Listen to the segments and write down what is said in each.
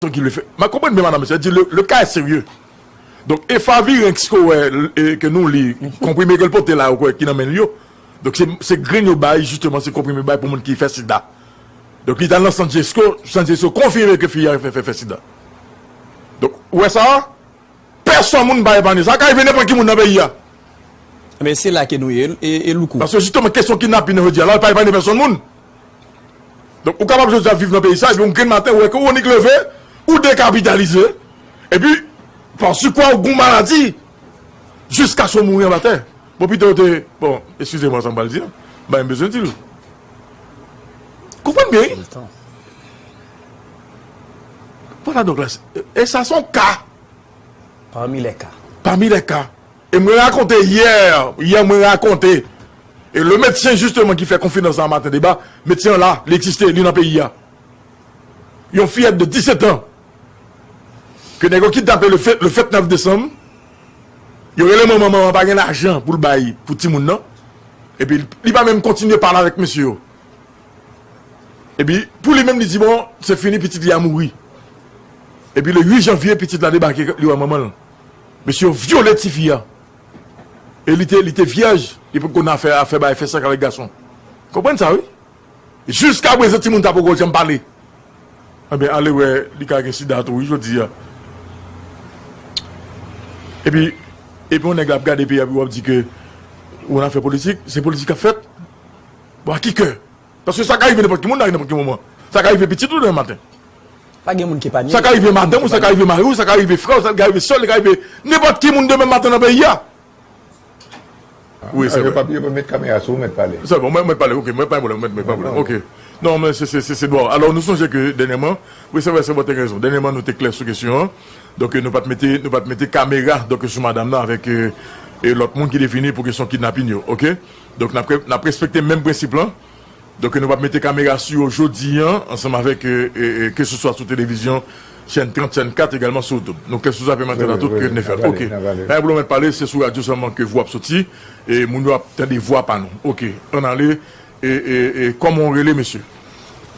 Son ki le fè. Mwen konprann byen madame, se di le ka è serye. Donk efavirenx ke w wè ke nou li, konprime ke l pote la yo kwè ki nan men l yo. Donk se grenn yo bay jisteman se konprime yo bay pou moun ki fè sida. Donk li t al nan sant jesco, sant jesco konfime ke fi a fè fè sida. Donk ou wè sa a, pèsòn moun pa epanye. Sa ka rive nenpòt ki moun nan peyi a. Ebyen se la ke nou ye e louko. Paske jisteman kesyon kidnapin nan jodi a la pa epanye pèsòn moun. Donk ou kapab jodi a viv nan peyi sa epi yon grenn maten ou wè ke ou annik leve, ou dekapitalize epi pa sikwa ou gen yon maladi jiskaske ou mouri anba tè. Bon pito ou te, bon eskize mwen sa m pral di an, men m bezwen di l. Konprann byen wi. Vwala donk la, e sa se yon ka. Pami lè ka. Pami lè ka. E mwen rakonte yè, yè mwen rakonte e le medsen jisteman ki fè konfidans la maten deba, medsen an la, li egziste, li nan peyi a. Yon fiyèt de 17 an ke nèg yo kidnape le fèt, le fèt 9 desanm, yo rele manman, manman an pa gen lajan pou l bay pou timoun nan, epi li pa menm kontinye pale avèk mesye yo. Epi pou li menm li di bon, se fini pitit li a mouri. Epi le 8 janvye pitit la debake li wè manman l. Mesye yo vyole tifi a e li te li te vyèj li pot konn afè afè bay fè sèks avèk gason konprann sa wi jiska prezan timoun sa poko janm pale anben ale wè li ka gen sida tou wi jodi a epi epi yon nèg ap gade peyi a epi wap di ke yon afè politik se politik kap fèt bon a ki kè. Paske sa ka rive nenpòt ki moun nan ri nenpòt ki moman. Sa ka rive pitit ou demen maten. Pa gen moun ki epanye. Sa ka rive madanm ou, sa ka rive mari ou, sa ka rive frè ou, sa ka rive sè ou, li ka rive nenpòt ki moun demen maten nan peyi a. Wi, se vre. Yo pa met kamera sou ou, mèt pale. Se bon, mèt pale, ok. Mèt pa gen pwoblèm, mèt pa gen pwoblèm. Ok. Non, men se, se, se dwa ou. Alò, nou sonje ke dènyèman, wi se vre, se vre ou te gen rezon. Dènyèman nou te klè sou kesyon an. Donk nou pa t mete, nou pa t mete kamera donk sou madam nan avèk lòt moun ki te vini pou kesyon kidnapin yo. Ok. Donk n ap respekte menm prensip lan. Donk nou p ap mete kamera sou yo jodi an ansanm avèk keseswa sou televizyon chèn 30, chèn 4 egalman sou YouTube. Nou klè sou sa Pèman Tèt a Tout? N ap fè l. Ok. Pa gen pwoblèm mèt pale, se sou radyo sèlman ke vwa ap soti e moun yo ap tande vwa pa nou. Ok. Ann ale. Kòman ou rele mesye?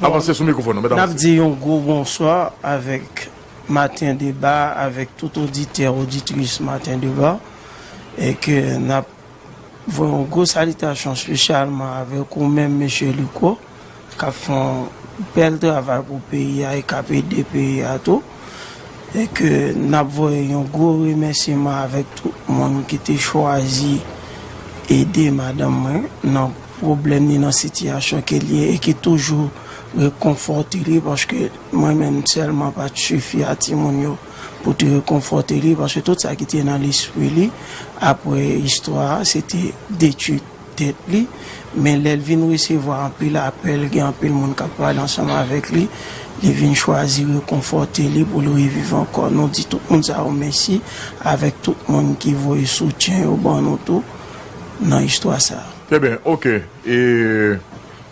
Avanse sou mikwofòn an. Mèt avanse. N ap di yon gwo bonswa avèk Maten Deba avèk tout oditè, oditris Maten Deba e ke n ap Voye yon gwo salitasyon spesyalman avèk ou menm Mesye Luco kap fè yon bèl travay pou peyi a e kap ede peyi a tou e ke nap voye yon gwo remèsyeman avèk tout moun ki te chwazi ede madanm mwen nan pwoblèm ni nan sitiyasyon ke li ye e ki toujou rekonfòte li paske mwen menm sèlman pat sifi a timoun yo. pou te rekonfòte li paske tout sa ki te nan lespri li apre istwa a se te detui tèt li men lè l vin resevwa anpil apèl gen anpil moun k ap pale ansanm avèk li li vin chwazi rekonfòte li pou l reviv ankò nou di tout moun sa yo mèsi avèk tout moun ki voye soutyen yo ban nou tou nan istwa sa. Trè byen ok e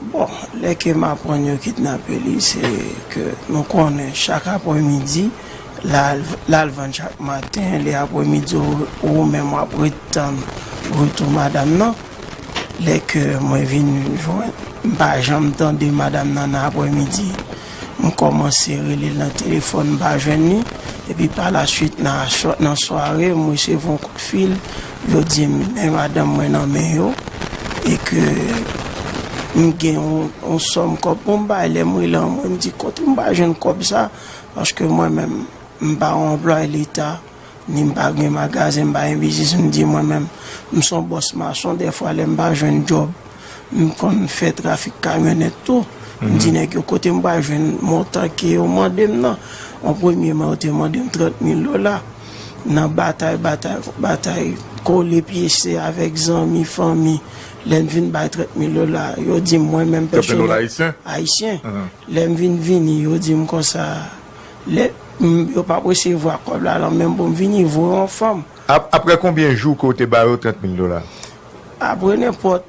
Bon, lè ke m aprann yo kidnape li, se ke nou konnen chak apremidi, l al vann chak maten, lè apremidi ou menm w ap ret tann retou madam nan, lè ke mwen vin jwenn, m pa janm tande madam nan nan apremidi, m kòmanse rele l nan telefòn m pa jwenn li, epi pa la swit nan sware m resevwa yon kout fil yo di m men madanm mwen nan men yo e ke m gen yon sòm kòb pou m bay, lè m rele anmwe m di kote m pral jwenn kòb sa paske mwen menm m pa yon anplwaye leta. Ni m pa gen magazen, m pa gen biznis, m di mwen menm m son bòs mason dèfwa lè m pa jwenn djòb m konn fè trafik kamyonèt tou. M di nèg yo kote m pral jwenn montan ke yo mande m nan. An premye man yo te mande m 30 mil dola. Nan batay, batay, batay, kole pye se avèk zanmi, fanmi lè m vin bay 30 mil dola yo di m mwen menm pèsonèl, ayisyen, lè m vin vini yo di m konsa Let m yo pap resevwa kob la lan menm pou m vini voye yon fanm. Apre konbyen jou ke w te ba yo 30 mil dola? Apre nenpòt,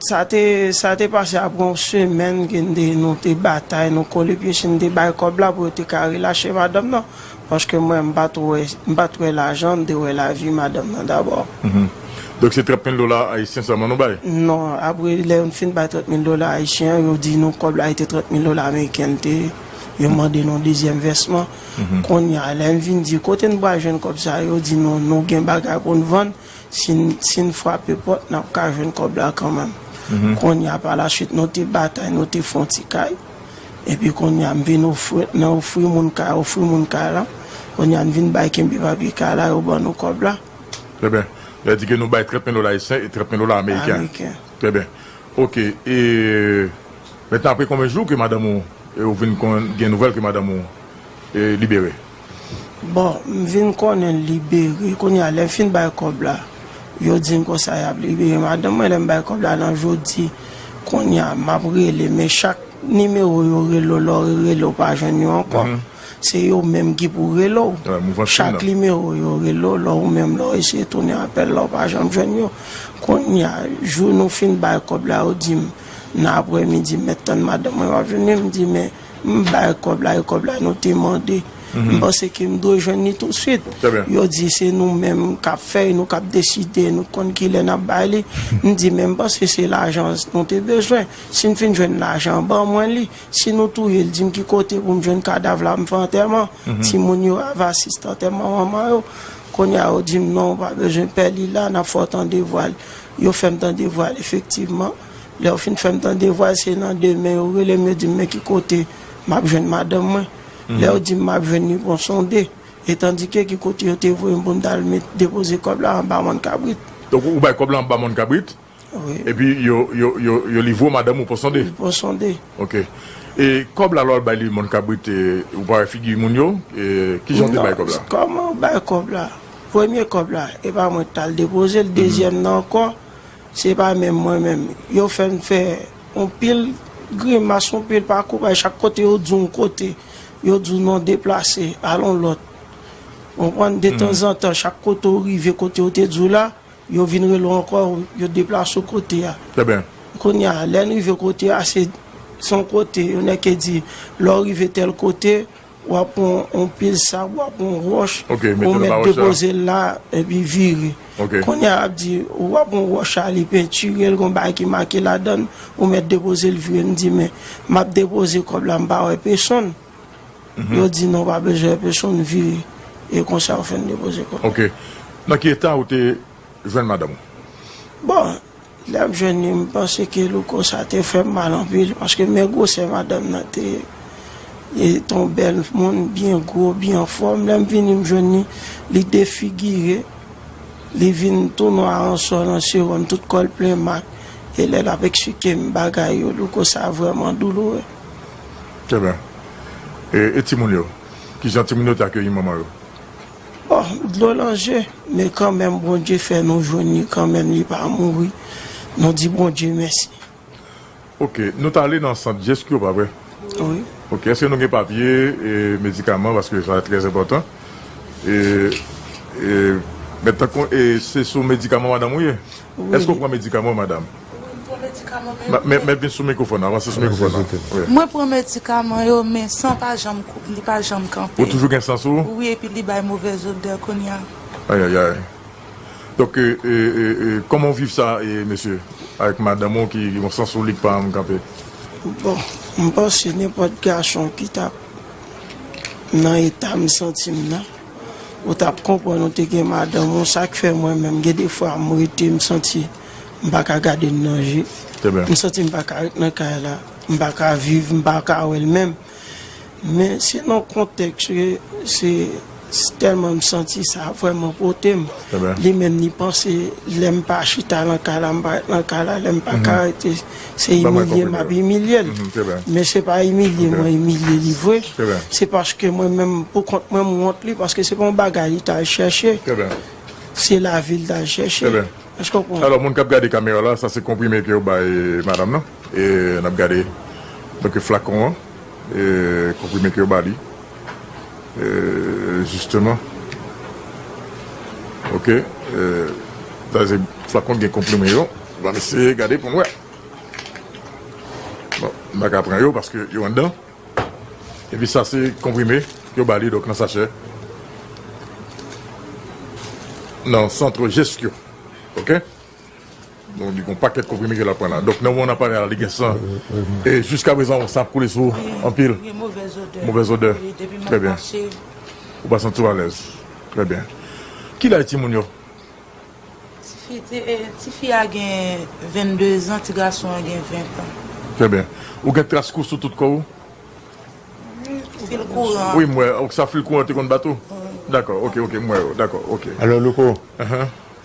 sa te, sa te pase apre yon semèn ke n te, nou te batay, nou kole pye si n te bay kòb la pou yo te ka relache madanm nan. Paske mwen, m pa t wè, m pa t wè lajan, m te wè lavi madanm nan dabò. Donk se 30 mil dola ayisyen sèlman nou bay? Non, apre lè n fin bay 30 mil dola ayisyen an, yo di nou kòb la e te 30 mil dola ameriken l te. yo mande nou dezyèm vèsman. Kounye a, lè n vin di kote n pral jwenn kòb sa yo, yo di nou nou gen bagay pou n vann, si n frape pòt n ap ka jwenn kòb la kanmenm. Kounye a, palasuit nou te batay, nou te fè yon ti kay. Epi kounye a, m vin ofri nan ofri moun kay, ofri moun kay la. Kounye a, n vin bay kenbe papye kay la, yo ban nou kòb la. Trè byen. Lè di ke nou bay 30 mil dola ayisyen e 30 mil dola ameriken. Ameriken. Trè byen. Oke. E Maintenant apre konbyen jou ke madanm ou e ou vin konn gen nouvèl ke madanm ou e libere? Bon m vin konnen l libere kounye a lè m fin bay kòb la yo di m konsa y ap libere madanm mwen lè m bay kòb la nan jodi kounye a m ap rele men chak nimewo yo rele w lè w rele w pa jwenn yo ankò se yo menm ki pou rele w chak nimewo yo rele w lè ou menm lè w eseye tounen apèl la ou pa janm jwenn yo kounye a jou nou fin bay kòb la yo di m. Nan aprè midi mèt tann madanm mwen pa vini m di men m bay kòb la e kòb la nou te mande m panse ke m dwe jwenn li tousuit yo di se nou menm k ap fè e nou k ap deside nou konn kilè n ap bay li m di men m panse se lajan nou te bezwen si n fin jwenn lajan an ban mwen li si nou touye l di m ki kote pou m jwenn kadav la m fè antèman timoun yo ava asiste antèman manman yo kounye a yo di m non ou pa bezwen pè li la n ap fè w tande vwa l Yo fè m tande vwa l efektivman. Lè yo fin fè m tande vwa l, se nan demen yo rele m, yo di m men ki kote m ap jwenn madanm mwen. Lè yo di m m ap jwenn li, bon sonde, etandike ki kote yo te voye m pou m t al met depoze kòb la anba mòn kabrit. Donk ou bay kòb la anba mòn kabrit, epi yo livre w madanm ou pon sonde? Wi, pon sonde. Ok. E kòb la lè w al bay li mòn kabrit, ou pa wè figi moun yo? Kijan w te bay kòb la? Kòman w bay kòb la? Premye kòb la e pa mwen ki t al depoze l, dezyèm nan ankò se pa menm mwen menm. Yo fè m fè yon pil grimas, yon pil pakou bay, chak kote yo di w yon kote, yo di w non deplase, al yon lòt. Ou konprann, detanzantan chak kote ou rive kote yo te di w la, yo vin rele w ankò, yo deplase w kote a. Trèbyen. Kounye a, lè n rive kote a, se yon kote, yon nèg ki di lè w rive tèl kote, W ap pran yon pil sab, w ap pran yon wòch, ou mèt depoze l la, epi vire. Kounye a, ap di, w ap pran wòch a, li pentire l, gon bagay ki make ladan l, ou mèt depoze l, vire. M di, men, m ap depoze kòb la, m pa wè pesonn. Yo di, non, w pa bezwen wè pesonn, vire. E konsa yo fè n depoze kòb la. Ok. Nan ki eta ou te jwenn madanm ou? Bon, Lap jwenn li m panse ke louko sa te fèm mal anpil paske men gwosè madanm nan te ye li te yon bèl moun byen gwo byen anfòm lèm vini m jwenn li li defigire li vin tou nwa an sò nan sewòm tout kòl plen mak e lè lap eksplikem bagay yo louko sa vrèman douloure. Trè byen. E timoun yo? Kijan timoun yo te akeyi manman yo? Bon dlo nan je men kanmenm Bondye fè nou jwenn li kanmenm li pa mouri nou di Bondye mèsi. Ok nou t ale nan sant jesq yo pa vre wi ok eske nou gen papye e medikaman paske sa trè enpòtan e e mèt tankou e se sou medikaman madanm ou ye. Eske w pran medikaman madam? Wi m pran medikaman men yo men. Mèt vin sou mikrofòn nan, avanse sou mikrofòn nan. Mwen pran medikaman yo men san pa janm li pa janm kanpe. Ou toujou gen san sou ou? Wi epi li bay movèz odè kounye a. Ayayay. Donk kòman w viv sa mesye avèk madanm ou ki gen yon san sou li ki pa janm kanpe? Bon m panse nenpòt gason ki ta nan eta m santi m nan. Ou tap konprann ou te gen madanm ou sak fè mwen menm gen de fwa m rete m santi m pa ka gade l nan je m santi m pa ka ret nan kay la m pa ka viv m pa ka wè l menm men se nan kontèks ke se tèlman m santi sa ap vreman pote m li menm li panse lè m pa chita nan kay la m pa ret nan kay la lè m pa ka rete. Se imilye m ap imilye l. Men se pa imilye mwen imilye li vre. Se paske mwen menm pou kont mwen m wont li paske se pa yon bagay li t al chèche. Se lavi l t al chèche. Èske w konprann? Alò moun k ap gade kamera la, sa se konprime ke yo bay madam nan. E n ap gade donk flakon an. E konprime ke yo ba li. E jisteman. Ok. Sa se flakon ki gen konprime yo. Banm eseye gade poum wè. Bon, m pa ka pran yo paske yo anndan. Epi sa se konprime yo ba li donk nan sachè. Nan centre Gestio. Ok. Donk li gon pakèt konprime ke l ap pran la. Donk nan moman n ap pale a la li gen san. E jiska prezan sa ap koule sou ou anpil. Gen movèz odè. Movèz odè. Wi, depi m ap mache. Ou pa santi w alèz. Trè byen. Kilè timoun yo? Ti fi a gen 22 zan, ti gason an gen 20 tan. Trè byen. Ou gen tras kou sou tout kò ou? Wi, fil kouran an. Wi, m wè. Ok, sa fil kouran an te konn bat ou? Wi. Dakò, ok, ok, m wè yo. Dakò, ok. Alò, Louko,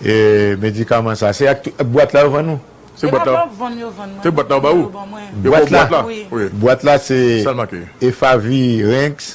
e medikaman sa a, se ak bwat la yo vann ou? Se bwat la. Se pa bwat vann yo vann mwen. Se bwat la yo ba ou? Yo ban mwen. Yo ban ou bwat la? Wi. Bwat la se Efavir Rinx.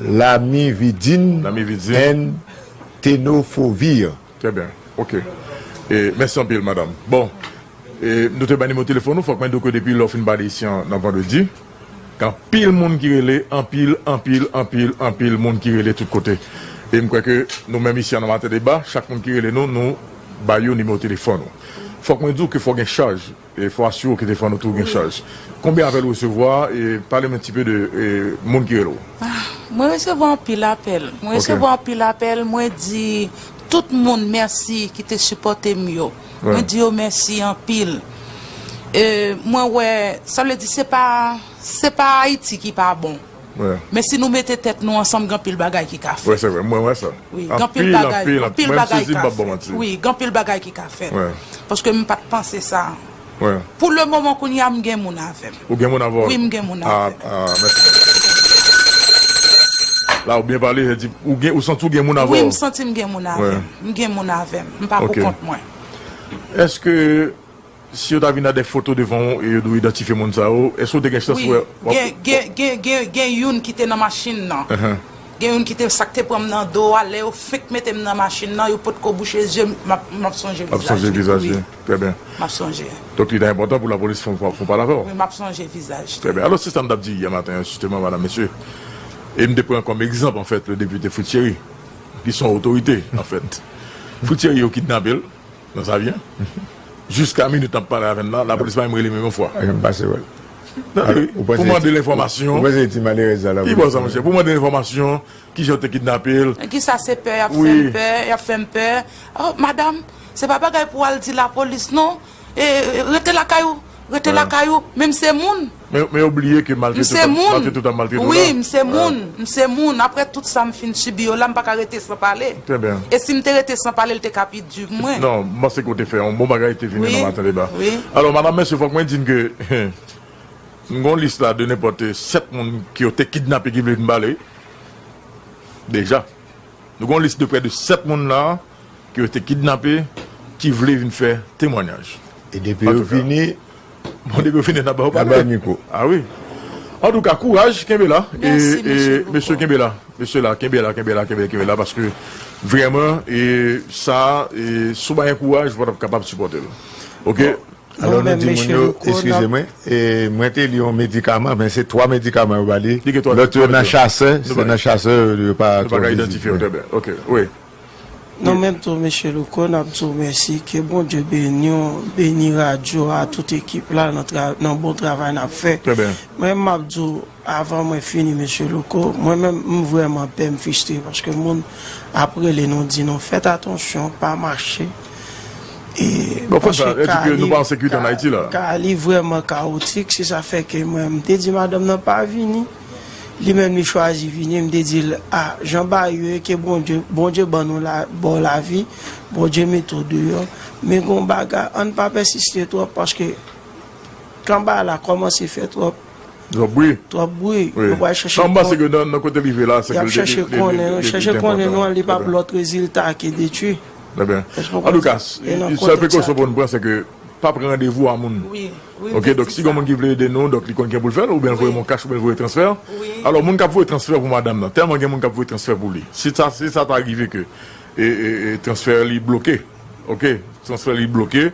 Lamividin and tenofovir. Trè byen. Ok. E mèsi anpil madam. Bon, e nou te bay nimewo telefòn ou, fòk mwen di w ke depi lè w fin pale isi an, nan vandredi, gen anpil moun ki rele, anpil, anpil, anpil, anpil moun ki rele tout kote. E m kwè ke nou menm isi an nan Matèdeba, chak moun ki rele nou, nou bay yo nimewo telefòn ou. Fòk mwen di w ke fò gen chaj. E fwa si ou kite fwa nou tou gen chaj. Konbyen apèl ou resevwa e pale m un ti peu de moun ki rele ou. Mwen resevwa anpil apèl, mwen resevwa anpil apèl mwen di tout moun mèsi ki te sipòte m yo. Mwen di yo mèsi anpil. E mwen wè sa vle di se pa se pa Ayiti ki pa bon. Men si nou mete tèt nou ansanm gen anpil bagay ki ka fèt. Wi gen anpil bagay ki ka fèt. Paske m pat panse sa. Pou le moman kounye a m gen moun avè m. Ou gen moun avè w? Wi m gen moun avè m. Ah mèsi anpil. La ou byen pale, ou santi ou gen moun avè w? Wi m santi m gen moun avè m. M gen moun avè m. M pa pou kont mwen. Eske Si yo ta vin a dè foto devan ou e yo di w idantifye moun sa yo, èske ou te gen chans wè? Wi. Gen, gen, gen youn ki te nan machin nan. Gen youn ki te, sa k te pran m nan do a, lè yo fenk mete m nan machin nan, yo potko bouche zye m, m ap, m ap sonje vizaj li. Ou ap sonje vizaj li. Trè byen. M ap sonje. Donk li ta enpòtan pou lapolis fè yon pale avè w. Wi, m ap sonje vizaj li. Trè byen. Alò, se sa m t ap di yè maten an jisteman, madam, mesye, e m te pran kòm egzanp anfèt le depite Fritz Chéry, ki s on otorite anfèt. Fritz Chéry yo kidnape l, Nan sa vyen? Jiska minit nap pale avè n la, lapolis pa menm rele menm yon fwa. Anyen m pase wè l. Tande, pou mande l enfòmasyon. Ou panse e ti malerèz sa lapolis. Pi bon sa monchè, pou mande l enfòmasyon, kijan yo te kidnape l. Ki sa se pè y ap fè m pè, y ap fè m pè. Madam, se pa bagay pou w al di lapolis non. Rete lakay ou. Rete lakay ou, men m se moun. Men yo bliye ke maltre tout ap maltre tout la. M se moun. Maltre tout la. Wi, m se moun. M se moun. Apre tout sa m fin sibi yo la, m pa ka rete san pale. Trè byen. E si m te rete san pale, l te ka pi di pou mwen. Non, m panse ke ou te fè yon bon bagay, te vini nan Maten Deba. Wi, wi. Alò, madanm, mesye, fòk mwen di n ke m gen yon lis la de nenpòt 7 moun ke yo te kidnape ki vle vin pale. Deja. Nou gen yon lis de prè de 7 moun la. Ke yo te kidnape ki vle vin fè temwanyaj. E depi yo vini. Bon depi yo vini nap ba yo pale. Nap ba yo mikwo. A wi. Antouka kouraj kenbe la. E mesye kenbe la. Mesye la kenbe la kenbe la kenbe la kenbe la paske vreman e sa e si w pa gen kouraj ou pa tap kapab sipòte l. Ok. Alò nou di moun yo eskize mwen. E mwen te li yon medikaman men se 3 medikaman yo ba li. Li gen 3 medikaman. Lòt yo nan chasè. Se nan chasè yo pa. Nou pa ka idantifye yo trè byen. Ok wi. Nou menm tou Mesye Louko nap di w mèsi ke Bondye beni w, beni radyo a, tout ekip la nan bon travay nap fè. Mwen map di w avan mwen fini Mesye Louko, mwen menm m vrèman pè m fistre paske moun ap rele nou di nou fèt atansyon pa mache e paske ka li ka li vrèman kawotik se sa fè ke mwen m te di madanm nan pa vini. Li menm li chwazi vini m te di l a jan bagay yo ye ke Bondye Bondye ban nou la ba w lavi Bondye mete w deyò men gon bagay ann pa pèsiste twòp paske kan bagay la kòmanse fè twòp Twòp bri twòp bri yo pral chèche Sa m panse ke nan nan kote li rive la se ke li te li te enpòtan y ap chèche konnen yo chèche konnen nou an li p ap lòt rezilta ke detwi Trè byen Èske w konprann sa? Antouka sèl prekosyon pou n pran se ke. pa pran randevou a moun ok donk si gen moun ki vle ede nou donk li konn kijan poul fèl oubyen voye mwen kach oubyen voye transfè alò moun kap voye transfè pou madam nan tèlman gen moun kap voye transfè pou li si ta si sa ta rive ke transfè li bloke ok transfè li bloke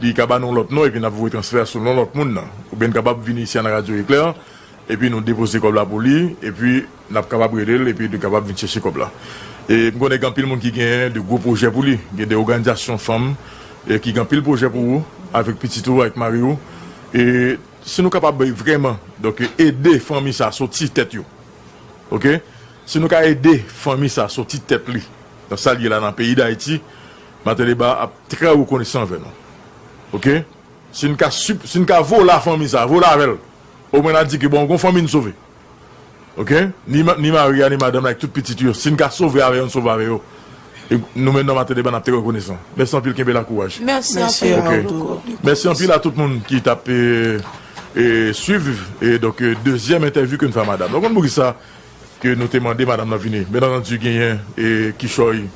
li ka ba nou lòt non epi nap voye transfè a sou non lòt moun nan oubyen nou kapab vini isi a nan radyo eklè Epi nou depoze kòb la pou li, epi nap kapab rele l, epi li kapab vin chèche kòb la. E m konnen gen anpil moun ki gen de gwo pwojè pou li, gen de oganizasyon fanm ki gen anpil pwojè pou ou, avèk pitit ou, avèk mari ou. E si nou kapab vrèman donk ede fanmi sa soti tèt yo, ok, si nou ka ede fanmi sa soti tèt li nan sa l ye la nan peyi Dayiti, Mateli Ba ap trè rekonesan anvè nou. Ok, si n ka si n ka vola fanmi sa, vola avè l, O mwen a di ke bon gon fanmi n sove ok ni ni mari a ni madanm la ak tout pitit yo si n ka sove avè yo n sove avè yo e nou menm nan Matileban n ap te rekonesan mèsi anpil kenbe la kouraj ok mèsi anpil a tout moun ki t ap e swiv e donk dezyèm entèvyou ke n fè a madam nan ou konn poukisa ke nou te mande madam nan vini byen antandi genyen e kichòy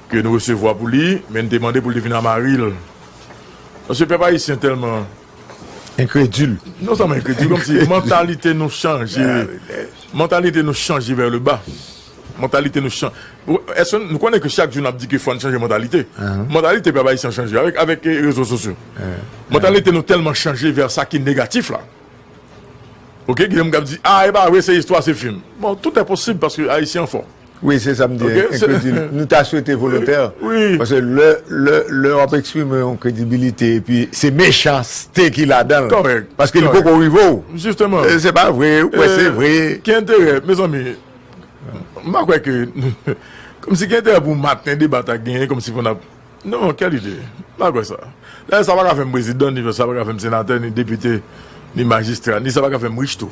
ke nou resevwa pou li men n te mande pou l te vini a mari l paske pèp ayisyen tèlman. Enkredil. Non sèlman enkredil, kòm si mantalite nou chanje, mantalite nou chanje vè le ba. Mantalite nou chan, èske nou konnen ke chak jou n'ap di ke fò n' chanje mantalite? Mantalite pèp ayisyen chanje avèk avèk rezo sosyo. Mantalite nou tèlman chanje vè sa ki negatif la. Ok, gen moun k'ap di, ah e pa vre se istwa se fim. Bon, tout è posib paske ayisyen an fò. Wi se sa m di enkredil. Nou ta swete volontè. Pase lè wap eksprime yon kredibilite epi se mechanste ki ladanl. Kòrèk. Paske li poko rive w. Jisteman. Se pa vre ou kwè se vre. Ki enterè mezanmi. M pa kwè ke kòmsi gen enterè pou maten deba ta genyen kòmsi fò nap. Non kèl ide. M pa kwè sa. Dayè sa paka fèm prezidan ni sa paka fèm senatè ni depite ni majistra ni sa paka fèm rich tou.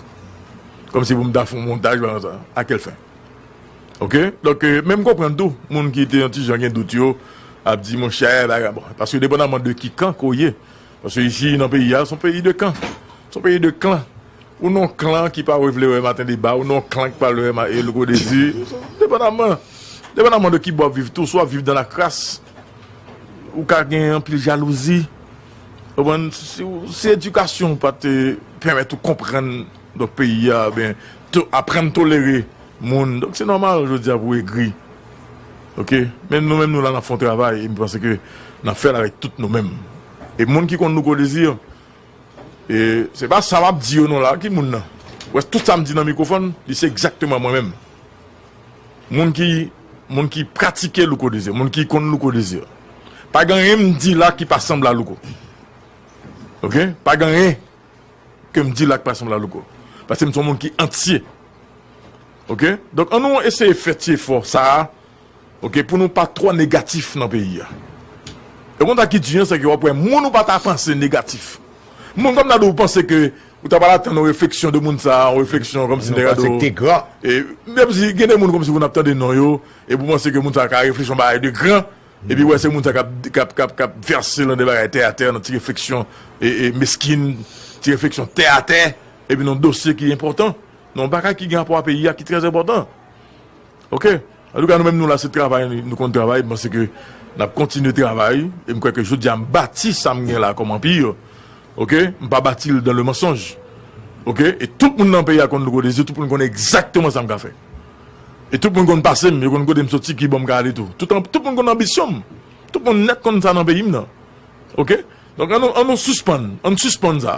Kòmsi pou m ta fon montaj balan sa. A kèl fen. Ok donk men m konprann tou moun ki te yon ti jan gen dout yo ap di monchè bagay bon paske depandaman de ki kan ke w ye paske isi nan peyi a se yon peyi de kan se yon peyi de klan ou nan yon klan ki pa vle wè maten deba ou nan yon klan ki pa vle wè louko dezi depandaman depandaman de ki bò w ap viv tou si w ap viv dan lakras ou ka gen anpil jalouzi ou konprann si edikasyon w pa te pèmèt ou konprann. Donk peyi a ben to aprann tolere moun donk se nòmal jodi a pou w egri ok men nou menm nou la n ap fè yon travay e m panse ke n ap fè l avèk tout nou menm e moun ki konn Louko Desir e se pa sa m ap di yo non la ki moun nan ou wè tout sa m di nan mikwofòn li se egzakteman mwen menm moun ki moun ki pratike Louko Desir moun ki konn Louko Desir pa gen anyen m di la ki pa sanble a Louko ok pa gen anyen ke m di la k pa sanble a louko. Paske m se yon moun ki antye. Ok? Donk an nou eseye fè ti efò sa a, ok, pou nou pa twò negatif nan peyi a. E w konn sa ki di an, se ke w ap wè moun ou pa ta panse negatif. Moun kòm ta di w panse ke ou ta pral atann yon refleksyon de moun sa a, yon refleksyon kòm si nèg la di w, e menm si gen de moun kòm si pou n ap tande non yo, e pou w panse ke moun sa a ka reflechi yon bagay de gran, Epi wè se moun sa kap kap vèse lan de bagay tè atè nan ti refleksyon meskin, ti refleksyon tè atè epi nan dosye ki enpòtan, nan yon bagay ki gen rapò a peyi a ki trè enpòtan. Ok, antouka nou menm nou la se travay nou konn travay, m panse ke nap kontinye travay e m kwè ke jodi a m bati sa m gen la kòm anpir ok, m pa bati l dan le mansonj ok, e tout moun nan peyi a konn Louko Desir, tout moun konnen egzakteman sa m ka fè. E tout moun konn pase m, yo konn kote m soti, ki bò m ka ale tou. Tout moun konn anbisyon m. Tout moun nèt konn sa nan peyi m nan. Ok? Donk an nou an nou sispann, an n sispann sa.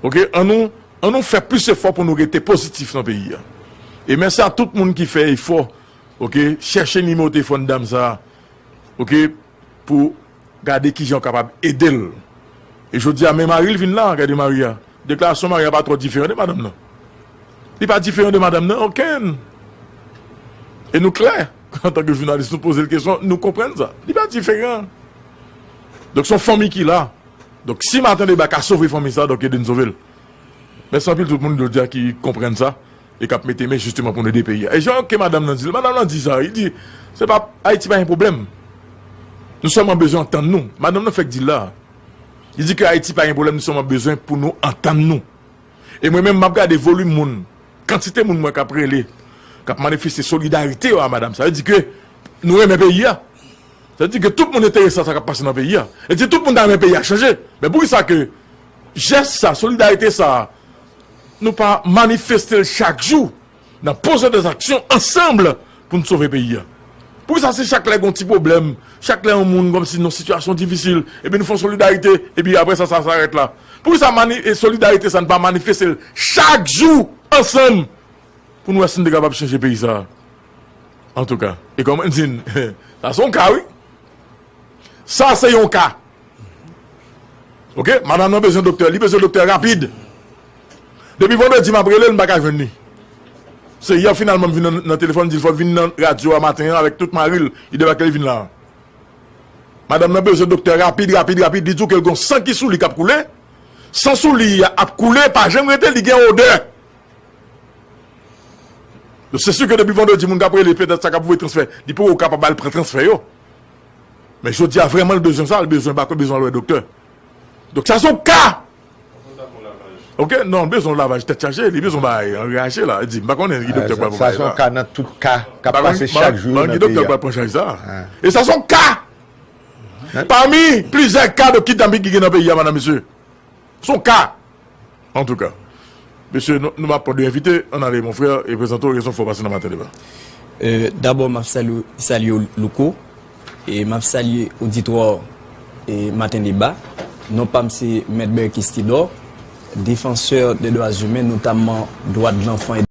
Ok? An nou an nou fè plis efò pou nou rete pozitif nan peyi a. E mèsi a tout moun ki fè efò, ok, chèche nimewo telefòn dam sa. Ok? pou gade kijan ou kapab ede l. E jodi a men mari l vin la, gade mari a. Deklarasyon mari a pa twò diferan de madanm nan. Li pa diferan de madanm nan okenn. E nou klè, antanke jounalis nou poze l kesyon, nou konprann sa. Li pa diferan. Donk son fanmi ki la. Donk si Martin Debat ka sove fanmi sa, donk ede n sove l. Mèsi anpil tout moun jodi a ki konprann sa. E kap mete men jisteman pou nou ede peyi a. E jan ke madanm nan di l, madanm nan di sa, li di, se pa, Ayiti pa gen pwoblèm. Nou sèlman bezwen antann nou. Madanm nan fèk di l la. Li di ke Ayiti pa gen pwoblèm, nou sèlman bezwen pou nou antann nou. E mwen menm, map gade volim moun, kantite moun m wè kap rele, kap manifeste solidarite yo a madanm sa. Sa vle di ke nou renmen peyi a. Sa vle di ke tout moun enterese a sa kap pase nan peyi a. E si tout moun ta renmen peyi a chanje, men poukisa ke jès sa, solidarite sa, Nou pa manifeste l chak jou nan poze de zaksyon ansanm pou n sove peyi a? Poukisa se chak lè gen yon ti pwoblèm, chak lè yon moun kòm si nan sitiyasyon difisil epi nou fè yon solidarite epi aprè sa sa rèt la? Poukisa solidarite sa nou pa manifeste l chak jou ansanm pou n wè si nou te kapab chanje peyi sa? Antouka e kòman di n sa se yon ka wi. Sa se yon ka. Ok madam nan bezwen doktè li bezwen doktè rapid depi vandredi map relel m paka jwenn li se yè finalman m vin nan telefòn m dil fòl vin nan radyo a maten an avèk tout maril li debake li vin la madam nan bezwen doktè rapid rapid rapid li diw kel gon san ki sou li kap koule san sou li a ap koule pa janm rete li gen odè se si ke depi vandredi moun kap rele petèt sa kap voye transfè li poko kapab al pran transfè yo. Men jodi a vreman l bezwen sa, l bezwen bako, l bezwen al wè doktè. Donk sa son ka! Pafwa l ta fon lavaj. Ok, non, l bezwen yon lavaj tèt chaje, li bezwen bay yon reyaje la. Di m, m pa konnen ki doktè k pral pran bagay sa. Sa son ka nan tout ka k ap pase chak jou yo nan peyi a. Ban ki doktè k pral pran chaj sa. E sa son ka! Pami plizyè ka de kidnaping ki gen nan peyi a, madan mesye. Son ka! Antouka. Mesye nou nou pa pwan de envite, ann ale mon frè e prezante w rezon fè w pase nan maten deba. Dabò map salye w Louko e map salye oditwa maten deba. Non pam se Mèt Berkis Tidor, defansè dè dwa zimen notamman dwa de lanfan e.